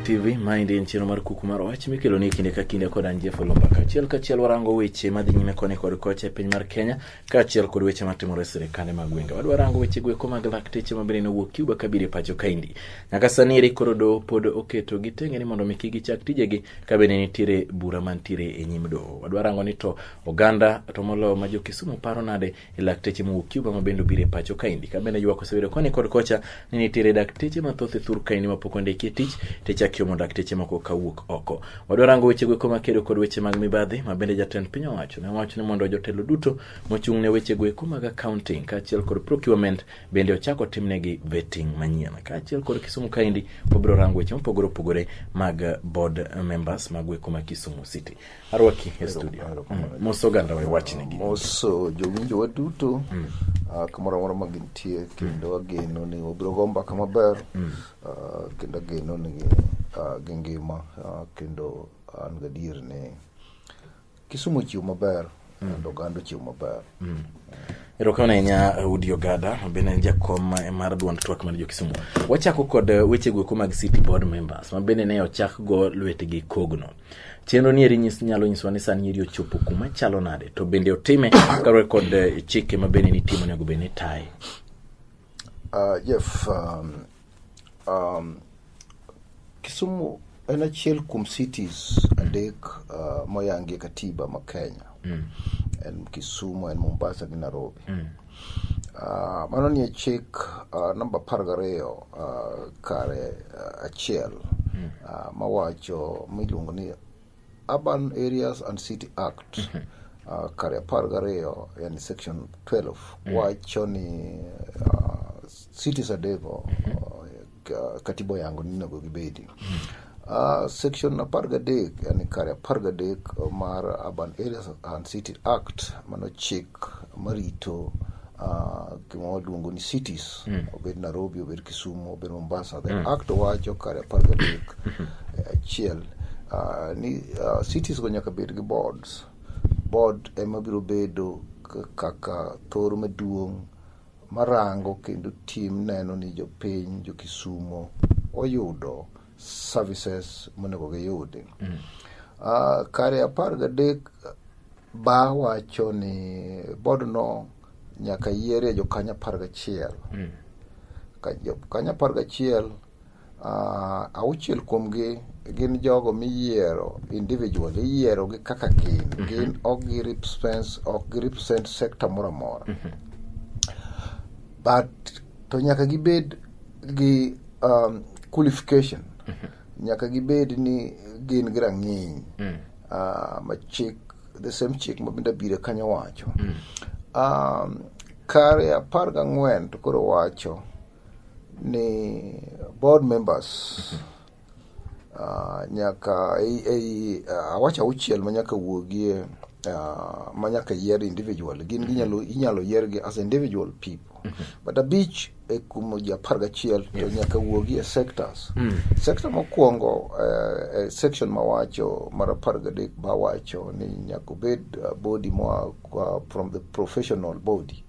TV Mind en chenro mar kuku mar wach mikelo ni kinde ka kinde kod an Jeff Olomba kaachiel kachiel warango weche madhi nyime koni kod kocha e piny mar Kenya kaachiel kod weche matimore e sirkande mag gwenge. Wadwa rango weche gweko mag lakteche mabende nowuok Cuba kabiro e pacho kaendi. nyaka sani eri koro doho pod oketo gi tenge ni mondo mi kik gichak tijegi ka bende nitiere bura mantiere e nyim doho wadwa rango ni to oganda to moloyo ma jo-kisumu paro nade e lakteche mowuok cuba ma bende obiro e pacho kaendi ka bende ywak osebedo koni kod kocha ni nitiere dakteche mathoth e thur kaendi ma pok ondiki e tich to ichak yomo dakteche moko ka wuok oko wadwa rango wechego eko makedo kod weche mag mibadhi ma bende jatend piny owacho ne owacho ni mondo jotelo duto mochung' ne wechego eko mag accounting kaachiel kod procurement bende ochak otimnegi vetting manyien kaachiel kod Kisumu kaendi wabiro rango weche mopogore opogore mag eh, board eh, members mag weko ma Kisumu City. Arwaki e studio. Mm, Mos oganda we wachnegi. mos uh, jowinjo waduto mm. uh, kamoro amora ma gintie mm. kendo ageno ni wabiro go mbaka maber mm. uh, kendo ageno ni uh, gi ngima uh, kendo an gadier ni Kisumu ochiwo maber and oganda ochiwo maber. Erokamano ahinya Udi Ogada mabende en jakom ma- mar duond twak mar jo-Kisumu. Wachako kod eh, weche goeko mag City Board members mabende ne ochak go lwetgi kogno. Chenro ni eri nyis, nyalo nyisowa ni sani eri ochopo kuma chalo nade to bende otime kaluwore kod eh, chike mabende nitimo onego bed ni taye. Uh, Jeff, um, Um, Kisumu en achiel kuom cities adek uh, moyangi e katiba ma Kenya. Mm. En Kisumu, en Mombasa gi Nairobi. Mm. Uh, mano nie chik uh, namba apar gariyo uh, kare uh, achiel mm. uh, mawacho miluongo ni Urban Areas and City Act mhm. uh, kare apar gariyo yani section 12 mm. wacho ni uh, cities adego mhm. uh, katiba yango ninego gibedi mm. Uh, section apar gadek yani kare apar gadek mar urban areas and city act mano chik marito uh, gima waluongo ni cities mm. obed nairobi obed kisumu obed mombasa the mm. act wacho kare apar gadek hmm. eh, achiel uh, ni uh, cities go nyaka bed gi boards board ema biro bedo kaka thoro maduong' marango kendo tim neno ni jopiny jokisumo oyudo services monego giyudi mm. uh, kare apar gadek ba wacho ni bodno nyaka yierie jokanyo apar gachiel mm. jokanyo apar gachiel uh, auchiel kuomgi gin jogo miyiero individual iyiero gi kaka gin mm -hmm. gin ok gi represent ok gi represent sector moro amora mm -hmm. but To nyaka gibed gi um, qualification. Nyaka gibed ni gin gi rang'iny ah, ma chik the same chik ma bende abire kanyo wacho. Um, kare apar gang'wen to koro wacho ni board members ah, nyaka ei ei, ah, awacho auchiel ma nyaka wuogie ah, ma nyaka yier individual gin ginyalo inyalo yiergi as individual people but abich e kumo ji apar gachiel to nyaka wuogi e sectors sector mokwongo eh, eh, section mawacho mar apar gadek bawacho ni nyaka obed ah, body moa ah, from the professional body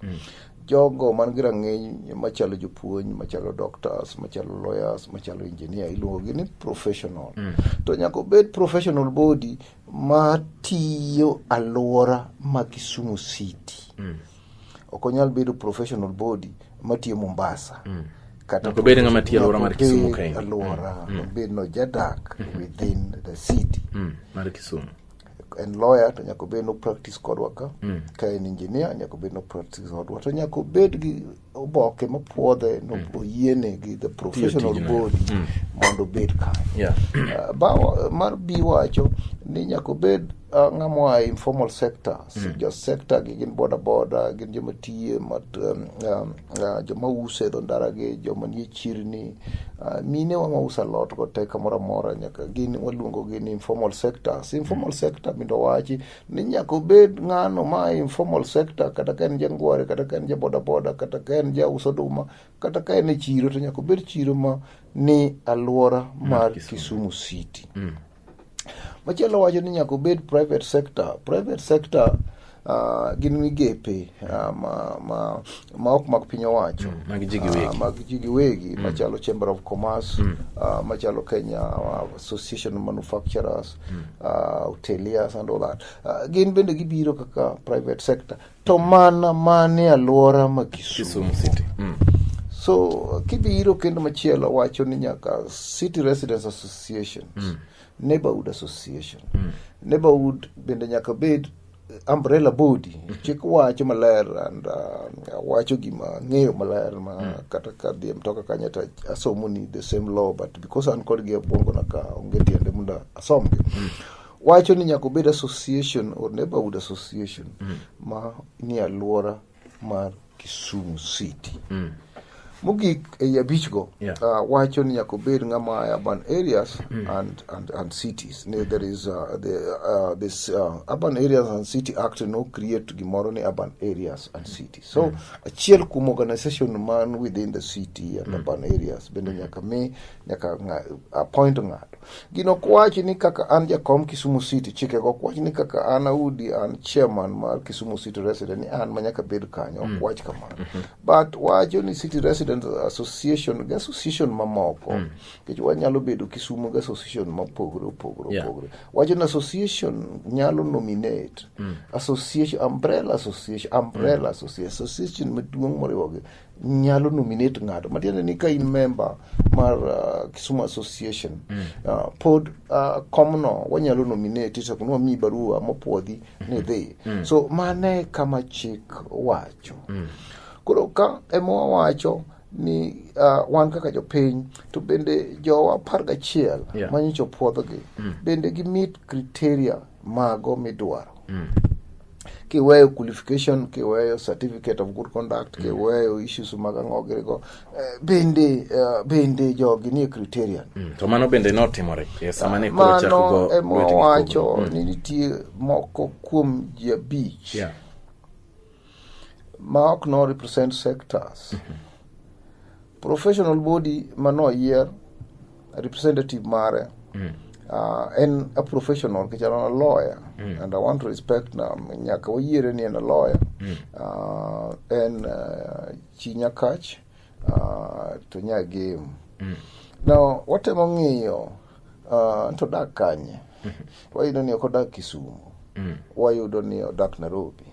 Jogo man gi rang'iny machalo jopuonj, machalo doctors, machalo lawyers, machalo engineer iluongogi ni professional. To nyaka obed professional body ma tiyo alwora ma Kisumu City. Ok onyal bedo professional body matiyo Mombasa. Kata Nyaka obed ng'ama tiyo alwora mar Kisumu nyaka kae. obed alwora, obed no jadak within the city. Mm, mar Kisumu. en lawyer to nyaka obed no practice kodwa ka mm. ka en engineer nyaka obed no practice kodwa to nyaka obed gi oboke mapwodhe no mm. oyiene gi the professional body mm. mondo obed ka yeah. uh, ba mar bi wacho ni nyaka obed uh, ng'amwa informal sector mm. jo sector gi gin boda boda gin joma tiye mat um, um, ah, joma uso e dho ndara gi joma nie chirni ah, minewa ma uso alot go te kamoro amora nyaka gin waluongo gi ni informal sectors informal sector mindo wachi ni nyaka obed ng'ano ma e informal sector kata ka en jangware kata ka en ja bodaboda kata ka en ja uso oduma kata ka en e chiro to nyaka obed chiro ma ni alwora mar Kisumu City Machielo wacho ni nyaka obed private sector. Private sector uh, gin migepe uh, ma, ma, ma ok mag piny owacho mm, mag ji giwegi, uh, mag ji giwegi mm. machalo Chamber of Commerce mm. uh, machalo Kenya uh, Association of Manufacturers mm. uh, hoteliers and all that uh, gin bende gibiro kaka private sector to mana mane alwora ma Kisumu. Kisumu City. Mm. So kibiro kendo machielo wacho ni nyaka City Residents Associations, mm. Neighborhood Association. Mm. Neighborhood bende nyaka bed umbrella body mm-hmm. chik wacho maler and uh, wacho gima ng'eyo maler ma mm. kata ka dhie mtoka kanyo to asomo ni the same law but because an kodgi e na ka onge tiende mondo asomgi mm. wacho ni nyaka obed association or neighborhood association mm. ma ni alwora mar Kisumu City mm. mogik ei abichgo yeah. uh, wacho ni nyaka obed ng'ama e urban areas mm. and, and, and cities ni there is uh, the, uh, this uh, urban areas and city act no create gimoro ni urban areas and mm. cities so mm. achiel kuom organization man within the city and mm. urban areas bende nyaka mi nyaka appoint ng'ato. Gino ok wach ni kaka an jakom Kisumu City, chike go ok wach ni kaka an Audi an chairman mar Kisumu City Resident ni an ma nyaka bed kanyo, ok mm. wach kamano. Mm-hmm. But wacho ni City Resident Association gi association mamoko, mm. nikech wanyalo bedo Kisumu gi association mopogore opogore opogore. Wacho ni association nyalo nominate, mm. association, umbrella association, umbrella association, association maduong' moriwogi nyalo nominate ng'ato matiende ni ka in member mar uh, Kisumu Association mm. uh, pod uh, komno wanyalo nominate to kunwa mi barua mopwodhi ni mm-hmm. dhi mm. so mane kama chik wacho mm. koro ka ema wawacho ni uh, wan kaka jopiny to bende jowa apar gachiel yeah. manyicho puodhogi mm. bende gimit criteria mago midwaro mm. kiweyo qualification kiweyo certificate of good conduct mm. kiweyo issues mag ang'o girigo eh, bende uh, bende jogi nie criterion mm. to mano bende notimore e sama ne koro chako go mano ema wacho mm. ni nitie moko kuom ji abich yeah. ma ok no represent sectors professional body ma noyier representative mare uh, en a professional kichalo na lawyer and i want to respect na nyaka wayiere ni en a lawyer uh, en uh, chi nyakach uh, to nyagem now watemo ng'iyo Ah, to odak kanye wayudo ni ok odak kisumu wayudo ni odak nairobi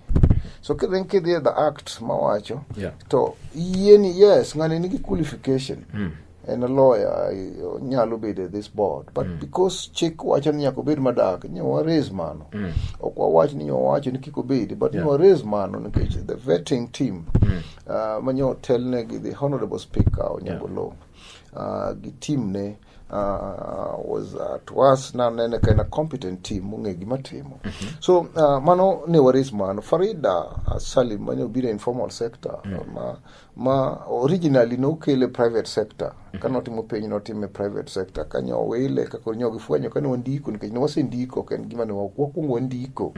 so kidhi kidhi e the act mawacho Yeah. to yieni yes ng'ani nigi qualification en a lawyer i- onyalo bedo e this board but because chik wacho ni nyaka obed madak nyo waraise mano ok wawach ni nyo wacho ni kik obedi but nyo waraise mano nikech the vetting team ah, ma nyo otelnegi the honorable speaker onyango yeah. gi team ne uh, was uh, to us na nene ka en a competent team mong'e gima timo so uh, mano ne waris mano farida uh, salim mane obiro e informal sector ma, ma originally nokele private sector ka notimo penj notimo e private sector ka nyo wile ka koro nyo gifwenyo ka ne wandiko nikech ne wasendiko ok en gima ne wa- wakwongo wandiko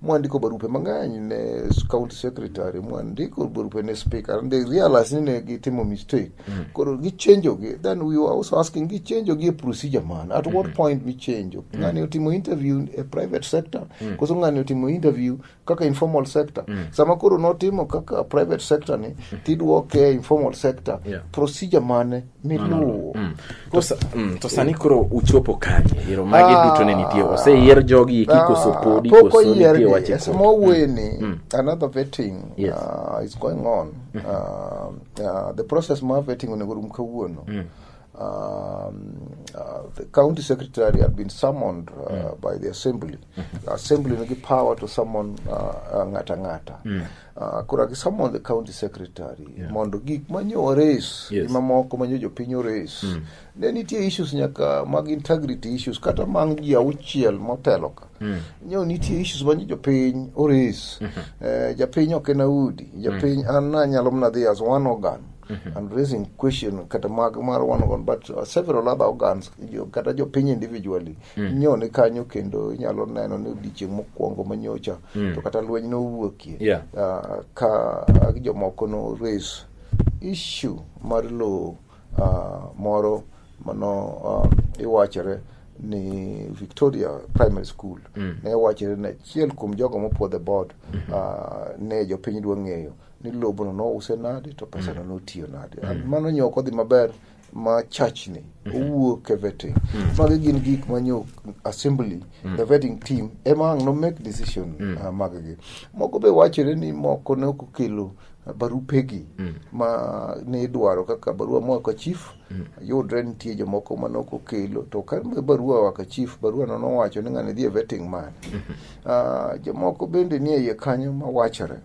mwandiko barupe mang'eny ne county secretary mwandiko barupe ne speaker and they realize ni ne gitimo mistake mm. koro gichenjogi then we were also asking gichenjogi e procedure man at mm -hmm. what mm-hmm. point michenjo mm. ng'ani otimo interview e private sector mm. koso ng'ani otimo interview kaka informal sector mm. sama koro notimo kaka private sector ni mm-hmm. tidwoke informal sector yeah. procedure mane miluwo mm. mm, to sani koro uchopo kanye ero magi ah, duto ne nitie oseyier jogi eki ah, koso podi koso nitie wache podi sama weni mm, another vetting yes. uh, is going on mm-hmm. uh, uh, the process ma vetting onego rum kawuono mm. Um, uh, the county secretary had been summoned uh, mm. by the assembly. Mm-hmm. assembly nigi power to summon uh, uh, ng'ata ng'ata. Mm. Ah, koro I summon the county secretary Yeah. mondo gik manyo ores Yes. gi mamoko manyo jopiny ores Mm. ne nitie issues nyaka mag integrity issues kata mang ji auchiel motelo ka Mm. nyo nitie issues manyo jopiny ores eh, japiny ok en audi japiny an nanyalo mna dhi as one organ and raising question kata mag mar one organ but uh, several other organs jo, kata jopiny individually Mm. nyo ni kanyo kendo inyalo neno ni odiechieng' mokwongo manyocha mm. to kata lweny nowuokie yeah. uh, ka jomoko no raise issue mar lowo uh, moro mano uh, iwachore ni victoria primary school mm. ne wachore ni achiel kuom jogo mopuo the board mm -hmm. uh, ne jopiny dwa ng'eyo ni lobono nouse nade to pesano mm. notiyo nade mm. mano nyo ok odhi maber ma church ni owuo ke vetting magi gin gik ma nyo assembly the vetting team ema ang' no make decision ah, maggi moko be wachore ni moko ne ok okelo barupegi ma ne idwaro kaka barua moa ka chief yudre nitie jomoko ma nok okelo to ka be barua oa ka chief barua no nowacho ni ng'ani dhi e vetting man Ah, jomoko bende nie iye kanyo ma wachore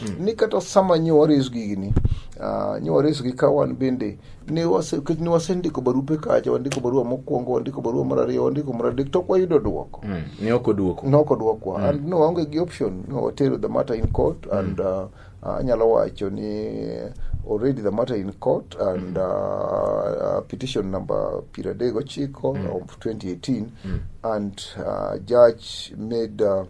hmm. ni kata sama nyo wareso gigi ni uh, nyo wareso gi ka wan bende ne wase kech ne wase ndiko barupe kacha wandiko barua mokwongo wandiko barua mar ariyo wandiko mar adek to kwayudo dwoko hmm. ne ok odwoko ne ok odwokwa hmm. and no waonge gi option no watero the matter in court and uh, uh, anyalo wacho ni already the matter in court and uh, uh, petition number piero adek ochiko mm. of 2018 mm. and uh, judge made uh,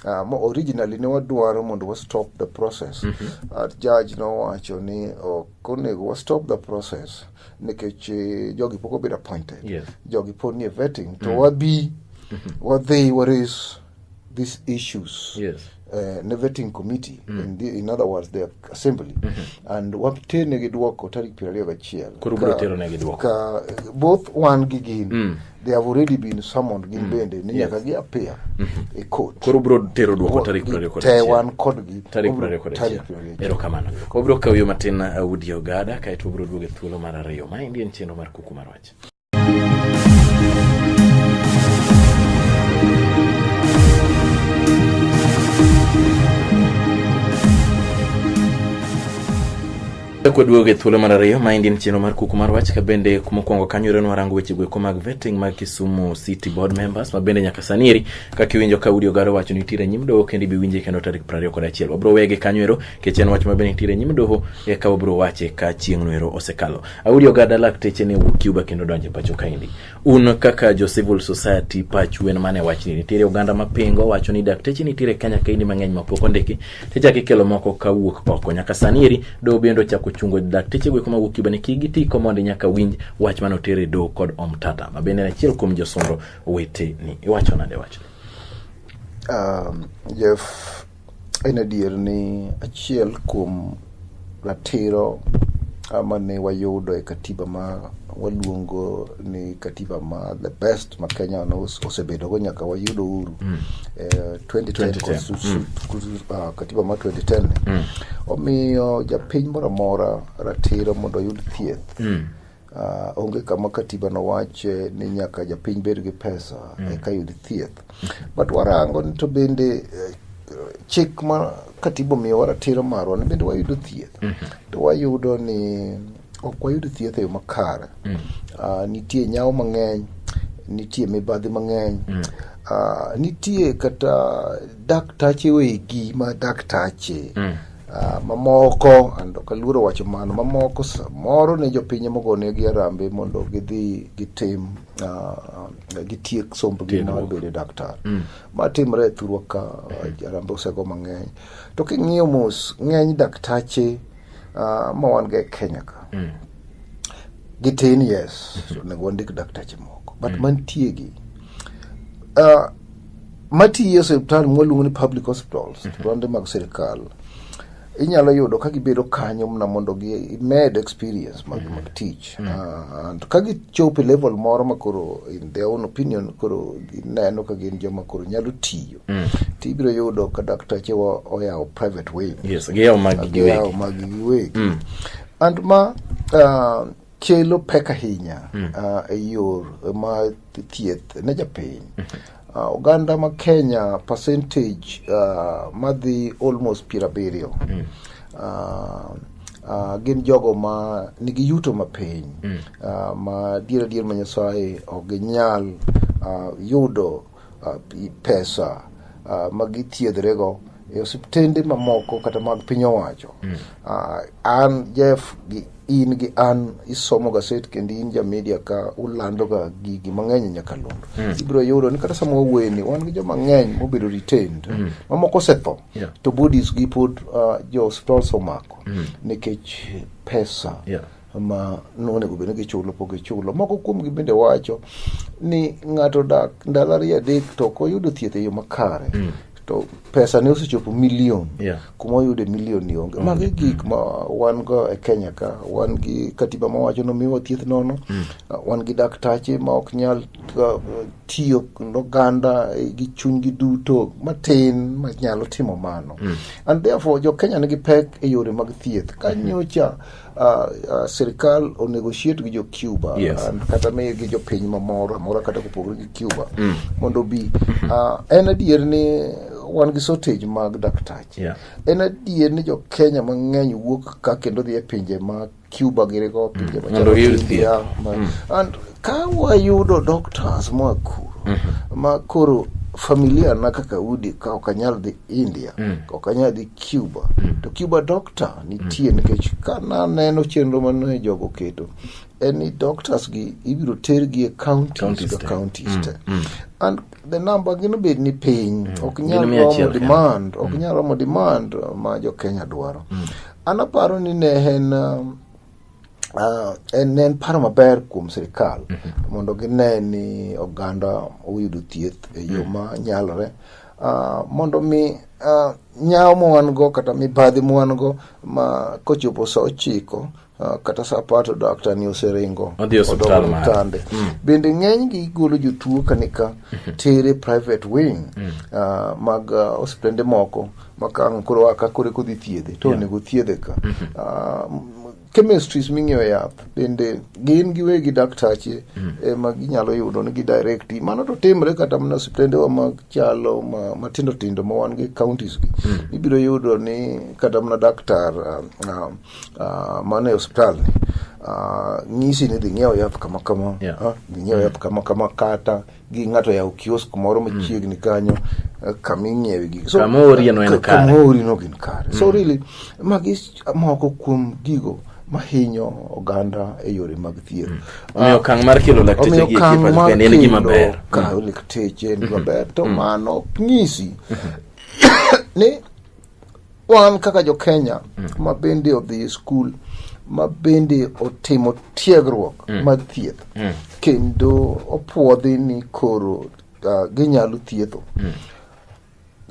Uh, mo- originally ne wadwaro mondo wa stop the process uh, judge nowacho ni ok onego wa stop the process nikech eh, jogi pok obedo appointed Yes. jogi pod nie vetting to wabi wadhi wa raise these issues Yes. eh, ne vetting committee in, the, in other words the assembly and watenegi dwoko tarik piero ariyo gachiel Koro ubiro Ka- teronegi dwoko. ka both wan gi gin they have already been summoned gin mm. bende ni nyaka gi appear mm-hmm. e court koro bro tero dwoko tarik 21 te wan kodgi tarik 21 erokamano obro kawo yo matin uh, Woody Ogada kae to obro duogo e thuolo mar ariyo ma endi en chenro mar kuku mar wach Chako duogo e thuolo mar ariyo maendi en chenro mar kuku mar wach ka bende mokwongo kanyo ero nwarango weche goeko mag vetting mag Kisumu City Board members ma bende nyaka sani eri kaka iwinjo ka Udi Ogaro wacho ni nitiere e nyim doho kendo ibi winje kendo tarik piero ariyo kod achiel wabiro wege kanyo ero nikech en wach ma bende nitiere e nyim doho eka wabiro wache ka chieng'no ero osekalo. Audi Ogada lakteche ne wuok Cuba kendo donjo e pacho kaendi. un kaka jo civil society pachu en mane wachni nitiere oganda mapingo wacho ni dakteche nitiere kenya kaendi mang'eny mapok ondiki tichako ikelo moko kawuok oko nyaka sani eri doho bende ochako chungo dakteche gweko mawuok cuba ni kik giti komondi nyaka winj wach mane oter e doho kod omtata ma bende en achiel kuom josundo weteni iwacho nade wachni Um, Jeff, En adier ni achiel kuom ratiro ama ne wayudo e katiba ma waluongo ni katiba ma the best ma Kenya osebedogo nyaka wayudo uhuru mm. eh, 2010 mm. ah, katiba ma 2010 mm. omiyo japiny moro amora ratiro mondo oyud thieth mm. Uh, onge kama katiba nowache ni nyaka japiny bed gi pesa mm. eka yud thieth but warango ni to bende eh, chik ma katiba omiyowa ratiro marwa ni bende wayudo thieth mm -hmm. to wayudo ni ok wayud thieth e yo makare mm. uh, nitie nyawo mang'eny nitie mibadhi mang'eny mm. uh, nitie kata daktache wegi ma daktache mm. Ah, mamoko and ok aluoro wacho mano mamoko samoro ne jopinye mogonegi arambe mondo gidhi gitim ah, gitiek sombgi mar bedo daktar mm. ma timre e thurwa ka ah, arambe osego mang'eny to king'iyo mos ng'eny daktache ma wan ga e kenya ka mm. gitin yes onego wandik daktache moko but mm. mantiegi Uh, matiyo e osiptal mwaluongo ni public hospitals mm -hmm. mag sirikal inyalo yudo ka gibedo kanyo mna mondo gimed experience mag, mm -hmm. mag tich mm -hmm. uh, ka gichopo e level moro ma koro in their own opinion koro gineno ka gin joma koro nyalo tiyo mm -hmm. to ibiro yudo ka daktache oyawo private way yes, giyawo magi giwegi and ma uh, kelo pek ahinya ah, e yor ma thieth ne japiny Ah, oganda ma kenya percentage ah, madhi almost piero abiriyo Ah, ah, gin jogo ma nigi yuto mapiny Ah, ma dier adier ma nyasaye ok ginyal ah, yudo pesa uh, ma githiedhrego e osiptende mamoko kata mag piny owacho mm. uh, an jeff gi in gi an isomo gaset kendo in ja media ka ulandoga gigi mang'eny e nyakalondo mm. ibiro yudo ni kata sama waweni wan gi joma ng'eny mobedo retained mm. mamoko osetho yeah. to bodies gi pod uh, jo hospital somako mm. nikech pesa yeah. ma nonego bed ni gichulo pok gichulo. Moko kuomgi bende wacho ni ng'ato dak ndalo ariyo adek to ok oyudo thieth e yo makare mm. to pesa ne osechopo milion yeah. kuma oyude milion ni onge mm. magi gik ma wan go e kenya ka wan gi katiba mawacho nomiwa thieth nono mm. uh, wan gi daktache ma ok nyal uh, tiyo noganda eh, gi chunygi duto matin ma nyalo timo mano mm. and therefore jo kenya nigi pek e yore mag thieth ka mm-hmm. nyocha mm -hmm. Uh, uh, sirikal onegotiate gi jo Cuba yes. and kata miyo gi jo piny mamoro amora kata kopogore gi Cuba mm. mondo bi mm-hmm. uh, en adier ni wan gi shortage mag daktache yeah. en adier ni jo Kenya mang'eny wuok ka kendo dhi e pinje ma Cuba girigo pinje mm. machalo mm. Ka wayudo doctors moa kuro mhm. ma koro familia na kaka udi ka ok anyal dhi India mm. ok anyal dhi Cuba mm. to Cuba doctor nitie mm. nikech ka naneno chenro mane jogo keto en ni doctors gi ibiro tergi e counties ka counties mm. te mm. and the number gino bed ni piny mm. ok nyal romo demand ok mm. nyal romo demand ma jo Kenya dwaro mm. anaparo ni ne en um, Ah, en en paro maber kuom sirikal mondo gine ni oganda oyudo thieth e yo ma nyalore Ah, mondo mi ah, nyawo ma wan go kata mibadhi ma wan go ma kochopo sa ochiko ah, kata sa apar to daktar ni oseringo Odhi e osiptal Odog mare. otande. bende ng'eny gi golo jotuo kanika tere private wing ah, mag ah, osiptende moko makang' koro a ka koro kodhi thiedhe to Yeah. onego thiedhe ka Ah, m- chemistries ming'iewo yath bende gin giwegi daktache ema ginyalo yudo ni gidirekti mano to timre kata mana osiptendewa machalo ma- matindo tindo ma wan gi counties gi ibiro yudo ni kata mana daktar ah, ah, ah, mane osiptal ni ah, nyisi ni dhi ng'iewo yath kama kama Yeah. ah, dhi ng'iewo yath kama kama kata gi ng'ato yawo kiosk moro mm. machiegni kanyo eh, kama ing'iewe gigi so, kama orieno en kare kama orieno gin kare so mm. really magi moko kuom gigo mahinyo oganda e yore mag thieth. Mm. Ah, omiyo okang' mar kelo lakteche gi ekipani en gima ber. Kawo lakteche en gima mm-hmm. ber to mm-hmm. mano nyisi mm-hmm. ni wan kaka jo Kenya mm. ma bende odhi e skul ma bende otimo tiegruok mm. mag thieth mm. kendo opuodhi ni koro uh, ginyalo thietho mm.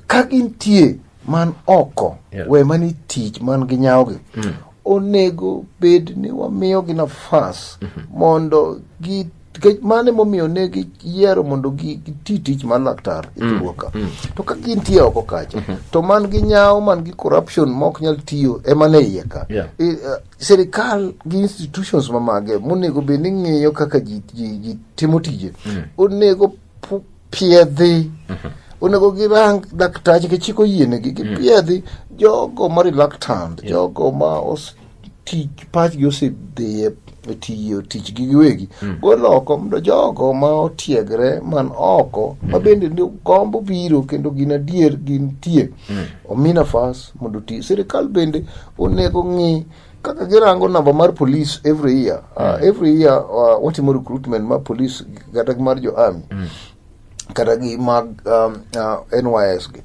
ka gintie man oko yeah. we mani tich man gi nyawogi mm. onego bed ni wamiyogi nafas mm -hmm. mondo gi nikech mano emomiyo ne giyiero mondo gi- giti tich mar laktar e thurwa ka to ka gintie oko kacha to man gi nyawo man gi corruption ma ok nyal tiyo ema ne iye ka Yeah. I- eh, sirikal gi institutions mamage monego bed ni ng'iyo kaka ji, ji, ji timo tije onego pu- piedhi onego girang daktache kichiko yienegi gipiedhi jogo ma reluctant jogo ma os- tich pachgi osedhiye tiyo tichgi giwegi gol oko mondo jogo ma otiegre man oko ma bende ni- gombo biro kendo gin adier gintie omi nafas mondo oti sirikal bende onego ng'i kaka girango namba mar police every year uh, every year uh, watimo recruitment mar police kata gi mar jo army kata gi mag um, uh, nys gi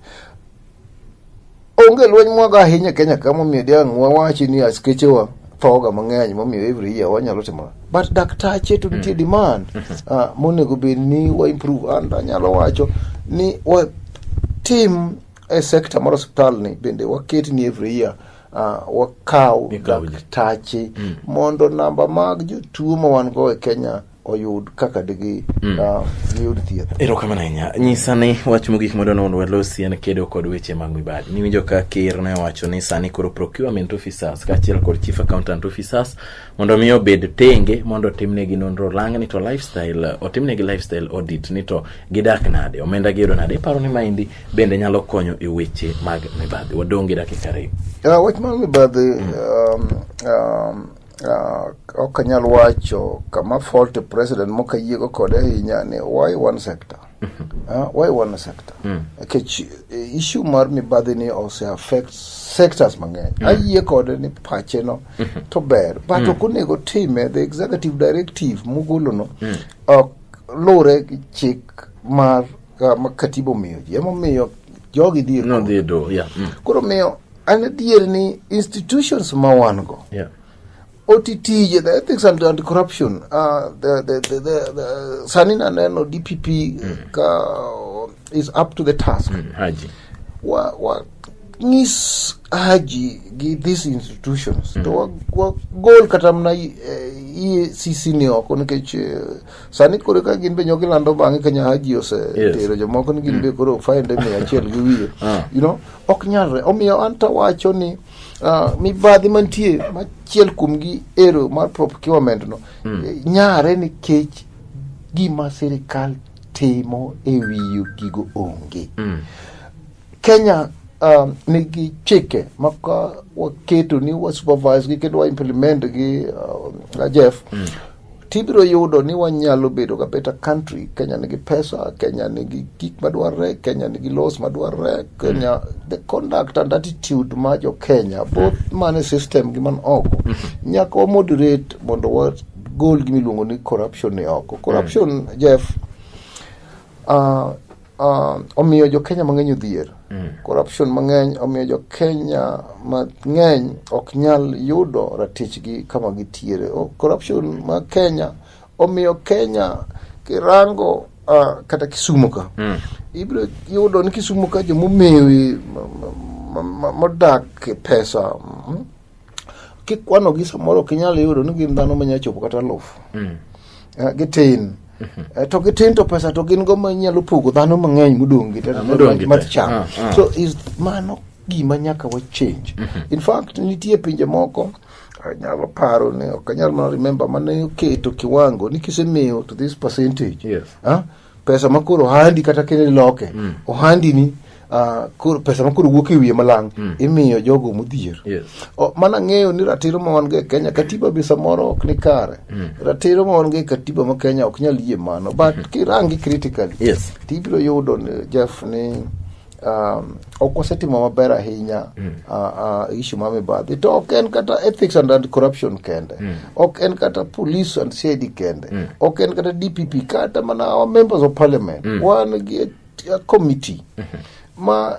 onge lweny mwago ahinya e kenya ka momiyo diang' wawachi ni askechewa thoga mang'eny momiyo every year wanyalo timo but daktache to nitie demand uh, monego bed ni wa improve and anyalo wacho ni watim e sector mar osiptal ni bende waket ni every year Ah, wakaw Mikawo ji. daktache mondo namba mag jotuo ma wan go e kenya oyud kaka digi ah, giyud thieth erokamano ahinya nyisa ni wach mogik madwa nono walosi en kedo kod weche mag mibadhi niwinjo ka ker ne owacho ni sani koro procurement officers kaachiel kod chief accountant officers mondo mi obed tenge mondo otimnegi nonro lang ni to lifestyle otimnegi lifestyle audit ni to gidak nade omenda giyudo nade iparo ni maendi bende nyalo konyo e weche mag mibadhi wadong' gi dakika ariyo uh, wach mag mibadhi mm. um, um, uh, ok anyal wacho kama fault president mokayiego kode ahinya ni why one sector Uh, why one sector? Mm. Nikech eh, issue mar mibadhi ni ose affect sectors mang'eny. Mm. Ayie kode ni pache no mm -hmm. to ber. But mm. ok onego time the executive directive mugolo no mm. ok lure gi chik mar uh, ma katiba omiyo ji. Emomiyo jogi dhi no, dhi do, yeah. mm. Koro miyo an adier ni institutions ma wan go. Yeah. OTT, the ethics and anti-corruption, uh, the, the, the, the, the Sanina Neno DPP mm. ka, is up to the task. Mm, Haji. Wa, wa, ngis Haji gi these institutions mm. to wa, wa gol kata mna iye sisi ni oko nikech eh, sani kore ka gin be nyogi lando bang'e kanya Haji ose Yes. tero jomoko ni gin be koro find me achiel gi wiye Ah. you know ok nyalre omiyo anta wacho ni Uh, mibadhi mantie machiel kuomgi ero mar procurement no mm. nyare nikech gima sirikal timo e wiyo gigo onge mm. kenya um, nigi chike ma ka waketo ni wasupervise gi kendo waimplement gi uh, jeff mm. tibiro yudo ni wanyalo bedo ga better country kenya nigi pesa kenya nigi gik madwarre kenya nigi laws madwarre kenya mm. the conduct and attitude ma jo kenya both mm. man e system gi man oko mm -hmm. nyaka wa moderate mondo wagol gimiluongo ni corruption ni oko corruption mm. jeff uh, uh, omiyo jokenya mang'eny odhier mm. corruption mang'eny omiyo jokenya mang'eny ok nyal yudo ratichgi kama gitiere oh, corruption ma kenya omiyo kenya kirango uh, kata kisumo ka mm. ibiro yudo ni kisumo ka jomomewi modak e pesa mm, kikwanogi samoro ok inyal yudo ni gin dhano manyalo chopo kata alufu mm. eh, gitin mhm. eh, to gitin to pesa to gin go manyalo pogo dhano mang'eny modong' gi ah, mar cham ah, ah. so is mano gima nyaka wa change mhm. in fact nitie pinje moko anyalo paro ni ok anyal mana remember mane oketo kiwango ni kisemiyo to this percentage yes. huh? pesa ma koro ohandi kata kendo iloke mm. ohandi ni Uh, koro, pesa ma koro wuok e wiye malang mm. imiyo jogo modhier yes. oh, mana ng'eyo ni ratiro ma wan go e kenya katiba be samoro ok ni kare mm. ratiro ma wan go e katiba ma kenya ok nyal yie mano but mm. kirangi critically yes. tibiro yudo jeff ni um, ok wasetimo maber ahinya mm. uh, uh, issue ma mibadhi to ok en kata ethics and, and corruption kende mm. ok en kata police and cid kende mm. ok en kata dpp kata mana our members of parliament mm. wan gi a committee mm -hmm. ma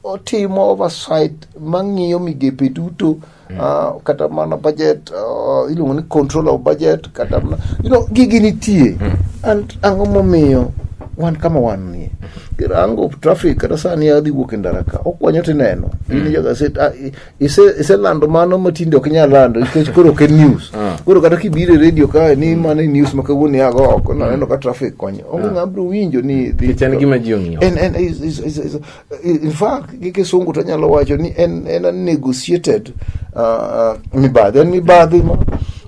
otimo oversight mang'iyo migepe duto Ah, kata mana budget ah, iluongo ni control of budget kata mana you know gigi nitie and ang'o momiyo wan kama wan nie kirango traffic kata sani adhi wuok e ndara ka okwanyo tineno in jo gaset ah, i- ise- iselando mano matinde ok inyal lando nikech koro ok en news koro kata kibiro e radio kae ni mano e news ma kawuono iago oko naneno ka traffic konyo onge ng'a biro winjo ni dhi- Nikech en gima ji ong'iyo. En- en- is- is- is- is- in fact gi kisungu to nyalo wacho ni en en a negotiated uh, mibadhi en mibadhi ma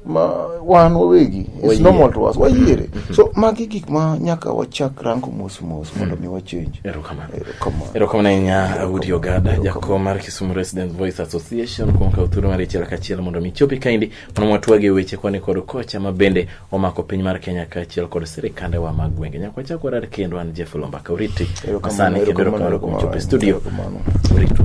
ma wan wawegi it's Wayier. normal to us wayiere so magi gik ma nyaka wachak rango mos mos mondo mi wachange erokamano Erokamano. erokamano ahinya audi ogada jakom mar kisumu resident voice association kuom kawo thuolo mar ichiel kachiel mondo mi chopi kaendi Mano watwage weche koni kod kocha ma bende omako piny mar Kenya kaachiel kod sirikandewa mag gwenge. Nyaka wachak warad kendo an Jeff Lomba Kauriti. Erokamano, Asani kendo erokamano, erokamano kuom chopo e erokamano, studio. erokamano. Uritu.